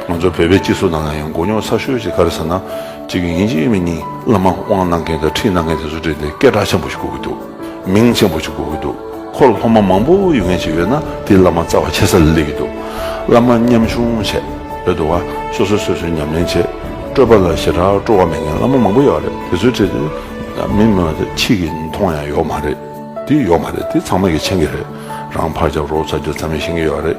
ང་ཚོ་བོད་པའི་སྤྱི་ཚོགས་ནང་ཡང་ཡང་མགོ་རྙོག་ཚ་ཤོས་ཤིག་ག་རེ་ཟེར་ན། གཅིག་གིས་ཡིན་གཅིག་མིན་གཉིས་བླ་མ་དབང་གནང་མཁན་དང་ཁྲིད་གནང་མཁན་དེ་ཚོ་བྲིས་ཏེ་སྐད་གྲགས་ཆེན་པོ་ཞིག་གོ་གི་འདུག་མིང་ཆེན་པོ་ཞིག་གོ་གི་འདུག་ཁོ་ལ་སློབ་མ་མང་པོ་ཡོད་མཁན་ཞིག་ཡོད་ན་དེས་བླ་མ་རྩ་བ་ཆེ་ས་ལ་སླེབས་ཀྱི་འདུག་བླ་མ་ཉམ་ཆུང་བྱས་ཡོད་འདུག་བ་སོ་སོས་སོ་སོའི་ཉམས་ལེན་བྱས་སྤྲོས་པ་ལ་ཞེ་དྲག་སྤྲོ་བ་མེད་མཁན་བླ་མ་མང་པོ་ཡོད་རེད་དེ་ཚོས་བྲིས་ཏེ་མི་མི་མ་དེ་ཕྱིས་ཀྱི་མཐོང་ཡང་ཡོག་མ་རེད་དེ་ཡོག་མ་རེད་དེ་ཚང་མ་གི་མཆན་གི་རེད་རང་ཕར་རྒྱབ་རོགས་ཚ་རྒྱུ་ཙམ་ཡང་ཤེས་ཀྱི་ཡོད་རེད།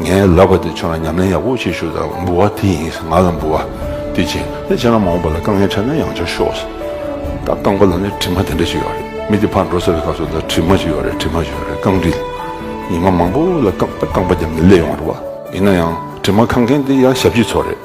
ངའི་ལབ་པ་དེ་ཁྱོད་ལ་ཉམས་ལེན་ཡག་པོ་བྱེད་ཤོག་དང་འབུལ་བ་དེ་ཡིན་ང་ལ་འབུལ་བ་དེ་བྱིན་ནས་ཁྱེད་རང་མ་འོངས་པ་ལ་དཀའ་ངལ་འཕྲད་ན་ཡང་བྱ་ཤོག་ཟེར། ད་རྐང་པ་ལ་ནི་དྲི་མ་དེ་འདྲ་ཞིག་ཡོད་རེད་མི་དེ་ཕར་འགྲོ་ཟེར་བའི་སྐབས་སུ་ད་དྲི་མ་ཞིག་ཡོད་རེད་དྲི་མ་ཞིག་ཡོད་རེད་རྐང་དྲི་ཉི་མ་མང་པོ་ལ་རྐང་པ་བརྒྱབ་ནས་སླེ་ཡོང་བ་རེད་བ། ཡིན་ན་ཡང་དྲི་མ་ཁ་མཁན་དེ་ཡང་ཞབས་ཕྱི་ཚོ་རེད།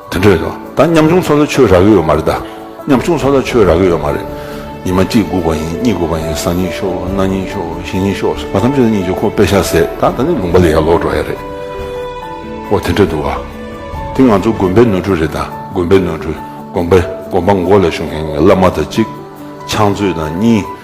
དེ་འདྲ་ཡོད་ད་ཉམ་ཆུང་ཚོ་ལ་ཆོས་རག་གི་ཡོད་མ་རེད་ད་ཉམ་ཆུང་ཚོ་ལ་ཆོས་རག་གི་ཡོད་མ་རེད། ཉི་མ་གཅིག་སྒུག་པ་ཡིན་གཉིས་སྒུག་པ་ཡིན་གསང་གཉིས་ཤོག་གནའ་གཉིས་ཤོག་བཞི་གཉིས་ཤོག་ཟེར་བ་ཐམས་ཅད་ལ་གཉིས་ཀྱི་ཁོག་པས་ཤ་ཟད་ད་ད་ནི་ལུང་པ་ལས་ཡར་ལོག་འགྲོ་ཡ་རེད། ཨོ་དེ་འདྲ་འདུག་ག། དེ་ང་ཚོ་དགོན་པའི་ནོར་འཁྲུལ་རེད་ད་དགོན་པའི་ནོར་འཁྲུལ་དགོན་པ་དགོན་པ་མགོ་ལ་ཤོང་མཁན་གྱི་བླ་མ་དང་གཅིག། ཕྱག་མཛོད་དང་གཉིས།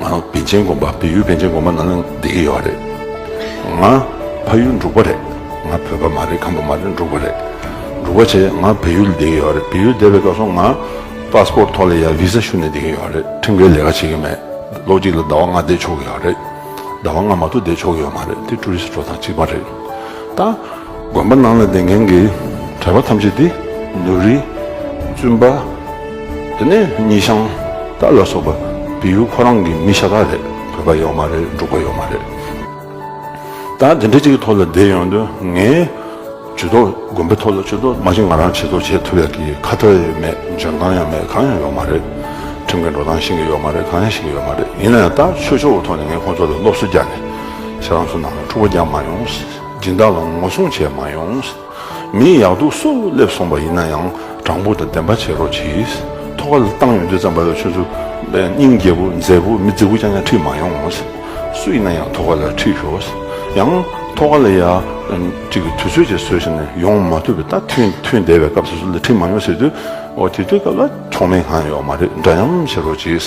ང་བན་ཆེན་དགོན་པ་བལ་ཡུལ་བན་ཆེན་དགོན་པ་ནང་ལ་བསྡད་ཀྱི་ཡོད་རེད། ང་ཕ་ཡུལ་འབྲུག་པ་རེད། ང་བོད་པ་མ་རེད་ཁམས་པ་མ་རེད་འབྲུག་པ་རེད། འབྲུག་པ་ཆེད་ང་བལ་ཡུལ་ལ་བསྡད་ཀྱི་ཡོད་རེད་བལ་ཡུལ་བསྡད་པའི་སྐབས་སུ་ང Passport ཐོག་ལ་ཡང Visa ཞུ་ནས་བསྡད་ཀྱི་ཡོད་རེད་ཁྲིམས་འགལ་ལས་ཀ་བྱེད་ཀྱི་མེད་ལོ་གཅིག་ལ་ཟླ་བ་ལྔ་བསྡད་ཆོག་གི་ཡོད་རེད་ཟླ་བ་ལྔ་མ་གཏུགས་བསྡད་ཆོག་གི་ཡོད་མ་རེད་དེ Tourist འགྲོ་སྟངས་གཅིག་མ་རེད་ད། དགོན་པ་ནང་ལ་སྡེ་མཁན་གྱི་གྲྭ་པ་ཐམས་ཅད་དེ་ནུ་རི། བཙུན་པ། དེ་ནས་ཉི་ཤང་དག་ལ་སོགས་པ་བལ་ཡུལ་ཁོ་རང་གི་མི་ཤ་སྟག་རེད་བོད་པ་ཡོག་མ་རེད་འབྲུག་པ་ཡོག་མ་རེད། ད་དེ་འདྲ་གཅིག་གི་ཐོག་ལ་བསྡད་ཡོང་དུས་ངས་ཇུས་གཏོགས་དགོན་པའི་ཐོག་ལ་ཆོས་གཏོགས་མ་བྱེད་ང་རང་བྱེད་གཏོགས་བྱེད་ཐུབ་ཡག་གི་ཁ་བརྡ་ཡང་མེད་འཇོན་ཐང་ཡང་མེད་གང་ཡང་ཡོག་མ་རེད། ཁྲིམས་གི་འགྲོ་སྟངས་ཤེས་གི་ཡོག་མ་རེད་གང་ཡང་ཤེས་གི་ཡོག་མ་རེད་ཡིན་ན་ཡང་ད་ཆོས་ཕྱོགས་ཀྱི་ཐོག་ནས་ངས་ཁོང་ཚོ་ལ་སློབ་གསོ་རྒྱག་ནས་ཤ་རང་ཚོ་ནང་ལ་འཁྲུག་པ་རྒྱག་མ་ཡོང། སྦྱིན་བདག་ལ་ངོ་སྲུང་བྱས་མ་ཡོང། མིའི་ཡག་སྡུག་སུ་སླེབས་སོང་བ་ཡིན་ན་ཡང་དྲང་པོ་དང་བདེན་པ་བྱེད་རོགས་གྱིས། ཐོག་ཁ་ལ་བཏང་ཡོང་དུས་ཙམ་བ་ལ་ཆུ་ཚུ། སྙིང་རྒྱལ་པོ་མཛེས་པོ་མི་རྫི་བོ་རྐྱང་རྐྱང་ཁྲིད་མ་ཡོང། སུ་ཡིན་ན་ཡང་ཐོག་ཁ་ལ་ཁྲིད་ཤོག། ཡང་ཐོག་ཁ་ལ་ཡ། གཅིག་གི་དུས་ཚོད་ཅིག་བཟོས་བྱས་ནས་ཡོང་མ་ཐུབ་པའི་ད་ཐུན་ཐུན་འདས་པའི་སྐབས་སུ་སུ་ལ་ཁྲིད་མ་ཡོང་ཟེར་དུས། དེ་དུས་སྐབས་ལ་ཆོག་མེད་གང་ཡོད་མ་རེད་འདྲ་སྙམ་བྱེད་རོགས་གྱིས།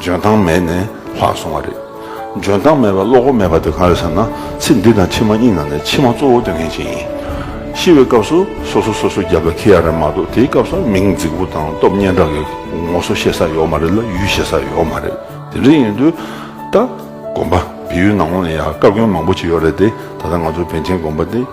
འཇོན་ཐང་མེད་ནས་ལྷག་སོང་བ་རེད། འཇོན་ཐང་མེད་པའི་བློ་ཁོག་མེད་པ་དེ་གང་རེད་ཟེར་ན་ཚེ་འདི་དང་ཕྱི་མ་གཉིས་ནང་ནས་ཕྱི་མ་གཙོ་བོ་སྟོན་མཁན་ཞིག་ཡིན། ཤི་བའི་སྐབས་སུ་སོ་སོ་སོ་སོའི་རྒྱབ་ལ་འཁེལ་ཡ་རེད་མ་གཏོགས་དེའི་སྐབས་སུ་མིང་རྫིག་པོ་དང་སྟོབས་སྙན་གྲགས་ཀྱི་ངོ་སོ་ཤེས་ས་ཡོད་མ་རེད་ལ་ཡུལ་ཤེས་ས་ཡོད་མ་རེད་དེ་འདྲ་ཡིན་དུས་ད་དགོན་པ་བལ་ཡུལ་ནང་ལོགས་ནས་ཡང་བཀའ་བཀྱོན་མང་པོ་བྱས་ཡོད་རེད་དེ་ད་ལྟ་ང་ཚོ་བན་ཆེན་དགོན་པ་འདི།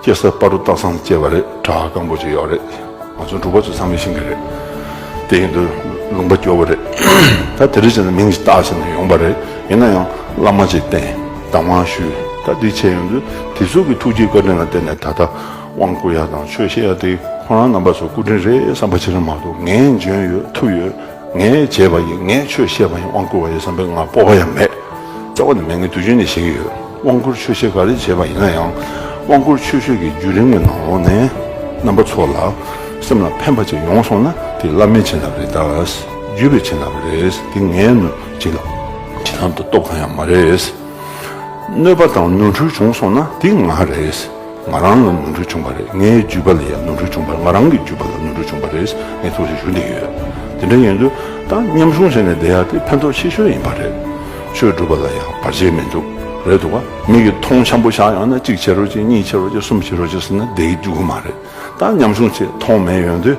སྐྱེ་སར་སྤ་རུ་སྟག་ཚང་བཅས་པ་རེད་བྲག་སྐམ་པོ་ཅིག་ཡོད་རེད་ང་ཚོ་འབྲུག་པ་ཚོས་ཚང་མས་ཤེས་ཀྱི་རེད་དེ་ཡིན་དུས་ལུང་པ་སྐྱོ་བོ་རེད་ད་དེ་རིང་བྱས་ན་མིང་ཅིག་སྟག་ཞིག་ནས་ཡོང་པ་རེད་ཡིན་ན་ཡང་བླ་མ་ཅིག་བསྟེན་བདག་དབང་ཞུས་ད་འདི་བྱས་ཡོང་དུས་དེ་ཚོ་གི་ཐུགས་རྗེ་བཀའ་དྲིན་ལ་བརྟེན་ནས་ད་ལྟ་དབང་བསྐུར་ཡ་དང་ཆོས་བཤད་ཡ་དེ་ཁོ་རང་རྣམ་པ་ཚོ་སྐུ་དྲིན་རེད་བསམ་པ་ཅི་རང་མ་གཏོགས་ངས་འཇོན་ཡོད་ཐུབ་ཡོད། ངས་བྱས་པ་ཡིན་ངས་ཆོས་བཤད་པ་ཡིན་དབང་བསྐུར་བ་ཡིན་བསམ་པའི་ངག་སྤོབས་པ་ཡང་མེད། རྩ་བ་ནས་མི་ངན་དུས་རྒྱུན་ནས་བཤད་ཀྱི་ཡོད། དབང་བསྐུར་ཆོས་བཤད་ག་རེ་བྱས་པ་ཡིན་ན་ཡང། དབང་བསྐུར་ཆོས་ཤོད་ཀྱི་བརྒྱུད་རིམ་གྱི་ནང་ལོགས་ནས། རྣམ་པ་ཚོ་ལ། སེམས་ལ་ཕན་པ་ཅིག་ཡོང་སོང་ན་དེ་བླ་མའི་བྱིན་རླབས་རེད་དཱ། བརྒྱུད་པའི་བྱིན་རླབས་རེད་དེ་ངའི་བྱིན་རླབས། བྱིན་རླབས་དང་སྟོབས་གང་ཡང་མ་རེད། གནོད་པ་དང་ནོར་འཁྲུལ་བྱུང་སོང་ན་དེ་ང་རེད། ང་རང་ལ་ནོར་འཁྲུལ་བྱུང་བ་རེད་ངའི་བརྒྱུད་པ་ལ་ཡང་ནོར་འཁྲུལ་བྱུང་བ་རེད་ང་རང་གི་བརྒྱུད་པ་ལ་ནོར་འཁྲུལ་བྱུང་བ་རེད་ངས་ཐུགས་རྗེ་ཞུ་འདོད་ཡོད། དེ་འདྲ་ཡིན་དུས་ད་མཉམ་ཞུགས་བྱས་ནས་བསྡད་ཡག་དེ་ཕན་ཐོགས་ཆེ་ཤོས་ཡིན་པ་རེད། ཆོས་སྒྲུབ་པ་ལ་ཡང་བར་ཆད་མི་འདུག་རེད་འདུག་བ། མིག་གིས་མཐོང་ཆེན་པོ་བཞག་ཡོང་ན་གཅིག་བྱེད་རོགས་གཅིག་གཉིས་བྱེད་རོགས་གཅིག་གསུམ་བྱེད་རོགས་གཅིག་ཟེར་ན་བསྡད་ཀྱི་འདུག་གི་མ་རེད་ད་མཉམ་ཞུགས་ཚེ་མཐོང་མེད་ཡོང་དུས།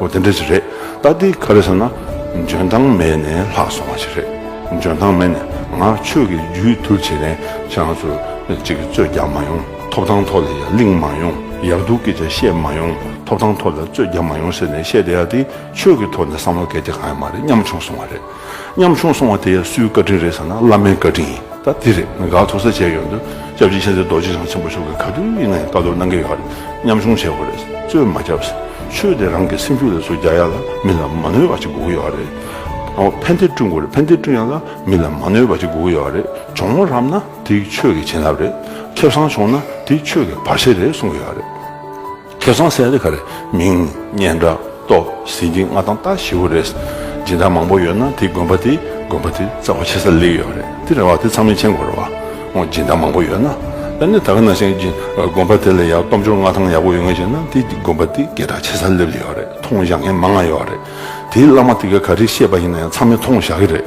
ཨོ་དེ་འདྲ་ཞིག་རེད་ད་འདི་ག་རེ་ཟེར་ན། འཇོན་ཐང་མེད་ནས་ལྷག་སོང་བ་ཞིག་རེད། འཇོན་ཐང་མེད་ནས་ང་ཆོས་ཀྱི་རྒྱུད་བསྡུར་བྱེད་མཁན་ཤ་ང་ཚོ་གཅིག་གིས་རྩོད་རྒྱག་མ་ཡོང་ཐོབ་ཐང་ཐོག་ལ་ཡར་གླིང་མ་ཡོང་ཡར་འདུག་སྐད་ཆ་བཤད་མ་ཡོང་ཐོབ་ཐང་ཐོག་ལ་རྩོད་རྒྱག་མ་ཡོང་ཟེར་ནས་བཤད་བསྡད་ཡ་དེ་ཆོས་ཀྱི་ཐོག་ནས་བསམ་བློ་གལ་ཏེ་གང་ཡང་མ་རེད་སྙམ་བྱུང་སོང་བ་རེད། ཉམ་ཆུང་སོང་བ་དེ་ཡང་སུའི་བཀའ་དྲིན་རེད་ཟེར་ན་བླ་མའི་བཀའ་དྲིན་ཡིན། ད་དེ་རེད་དགའ་ཚོར་ས་བྱས་ཡོད་འདུག་སྐྱབས་རྗེ་མཁྱེན་བརྩེ་རྡོ་རྗེ་འཆང་ཆེན་པོ་མཆོག་གིས་ག་དུས་ཡིན་ན་ཡང་བཀའ་སྡོད་གནང་གི་ཡོད་རེད་ཉམ་ཆུང་བྱས་དགོས་རེད་རྩོད་མ་རྒྱབ། ཆོས་དེ་རང་གི་སེམས་རྒྱུད་ལ་བཟོ་རྒྱ་ཡག་ལ་མི་ལ་མ་གནོད་པ་ཅིག་དགོས་ཀྱི་ཡོད་རེད། ཕན་བདེ་བསྐྲུན་དགོས་རེད་ཕན་བདེ་བསྐྲུན་ཡག་ལ་མི་ལ་མ་གནོད་པ་ཅིག་དགོས་ཀྱི་ཡོད་རེད་ཇོ་མོ་རབ་ན་དེ་ཆོས་ཀྱི་བྱིན་རླབས་རེད་ཁེབས་བཟང་བྱུང་ན་དེ་ཆོས་ཀྱི་བར་ཆད་རེད་གསུང་གི་ཡོད་རེད། ཁྱེད་ཚང་སེ་རི་ག་རེད་མིང་སྙན་འདྲ་ཏོག་ཟིན་གྱི་ང་དང་ལྟ་ཞེ་བོ་རེད་སྦྱིན་བདག་མང་པོ་ཡོད་ན་དེ་དགོན་པ་དེ་དགོན་པ་དེ་རྩ་བ་ཆེ་ས་ལེགས་ཡོད་རེད་དེ་རེད་བ་དེ་ཚང་མི་མཆན་འགོད་རེད་བ་སྦྱིན་བདག་མང་པོ་ཡོད་ན་ད་ནི་ད་ག་ནང་བཞིན་དགོན་པ་དེ་ལ་ཡག་སྟོབས་འབྱོར་མངའ་ཐང་ཡག་པོ་ཡོད་ངེས་བྱས་ན་དེ་དགོན་པ་དེ་གད་དྲག་ཆེ་ས་ལེབ་ཡོད་རེད་མཐོང་བཞག་མཁན་མང་ང་ཡོད་རེད་དེའི་བླ་མ་དེ་ག་ག་རེད་ཤེས་པ་ཡིན་ན་ཡང་ཚང་མས་མཐོང་བཞག་གི་རེད།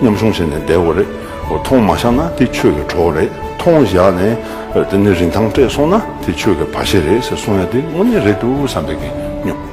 མཉམ་ཆུང་བྱས་ནས་བསྡད་འོ་རེད། མཐོང་མ་བཞག་ན་དེ་ཆོས་ཀྱི་གྲོགས་རེད། མཐོང་བཞག་ནས་དེ་ནི་རིན་ཐང་སྤྲད་སོང་ན་དེ་ཆོས་ཀྱི་བ་ཤེས་རེད་ཟེར་སོང་ཡ་དེ་དངོས་གནས་རེད་འདུག་བསམ་པའི་གི་སྙོམས།